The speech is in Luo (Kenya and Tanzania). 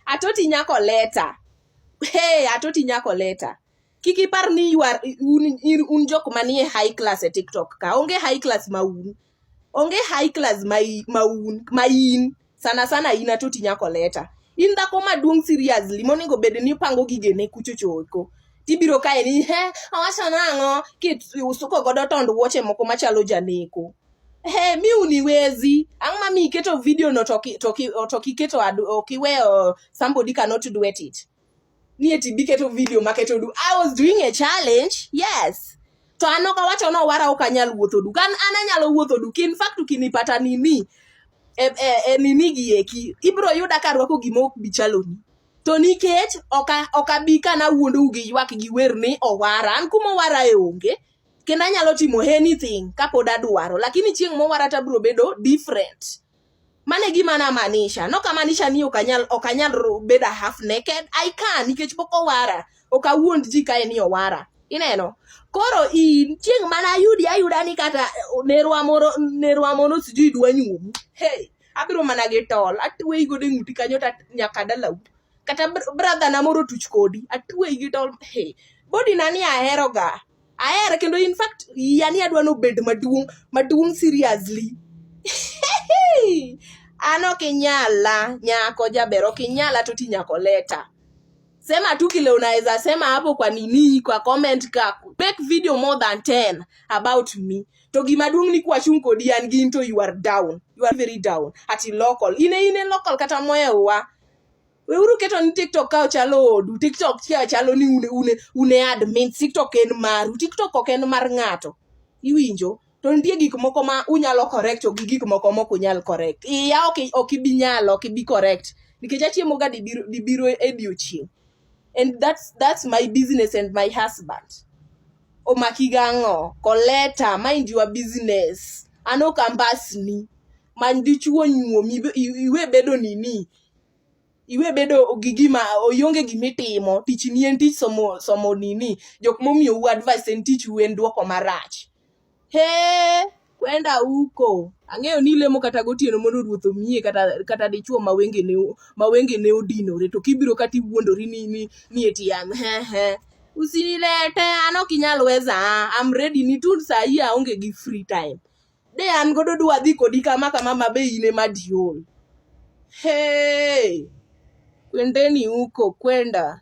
atoti nyako leta hey atoti nyako leta kik ipar ni you are un, in- un jok manie high class e tiktok ka onge high class ma un onge high class ma i- ma un ma in sana sana in atoti nyako leta in dhako maduong seriously monego bed ni pango gigene kuchochoko tibiro kae ni he owacho nang'o kit usuko godo tond wuoche moko machalo janeko Hey, mi uniwezi ang'ma mi iketo video no to ki- to ki- to kiketo adu- ok iweyo somebody cannot do it it ni eti biketo video maketo du i was doing a challenge yes to an ok awacho ni owara ok anyal wuotho du kan an anyalo wuotho du kin fact ukinipata nini e, e, e nini gi eki ibro yuda ka rwako gima ok bi chaloni to nikech ok a- ok abi ka nawuondou gi ywak gi wer ni owara an kuma owara e onge kendo anyalo timo anything kapod adwaro lakini chieng' mowara tabro bedo different mane gima namaanisha nokamaanisha ni okanyal okanyal bedo half naked i can nikech pok owara ok awuond ji kae ni owara ineno koro in chieng' mana ayudi ayuda ni kata nerwa moro nerwa moro sijui dwa nyuomu hey abiro mana gi tol atweyi godo e ng'uti kanyo ta nyaka dalau kata brother na moro tuch kodi atweyi gi tol hey body na ni aheroga ahere kendo in fact yani adwa ni obed maduong' maduong' seriously an ok inyala nyako jaber ok inyala to ti nyako leta sema tu kile unaweza sema hapo kwa nini kwa comment ka make video more than 10 about me to gima duong ni kwachung kodi an gin to you are down you are very down ati local ine ine local kata moya wa weuru keto ni tiktok ka ochalo odu tiktok ka chalo ni une, une, une admin tiktok en maru tiktok ok en mar ng'ato iwinjo to nitie gik moko ma unyalo correct to gi gik moko mok unyal correct iya ok ok ibi nyalo ok ibi correct nikech achiemo ga dibiro dibiro e diochieng and that's that's my business and my husband omaki gang'o koleta mind your business an ok ambasni many dichuo nyuomi iwe bedo nini iwe bedo gi gima ionge gima itimo tich ni en tich somo somo nini jok momiyo u advice en tich u en duoko marach he kwenda uko ang'eyo ni ilemo kata gotieno mondo ruoth omiye kata kata dichuo ma wenge ne ma wenge ne odinore to kibiro kata iwuondori ni ni ni eti am he he usinilete an ok inyal weza I'm ready ni tu saa hii aonge gi free time De an godo dwa dhi kodi kama kama ma be in ema diol. Hey! Kwendeni huko kwenda.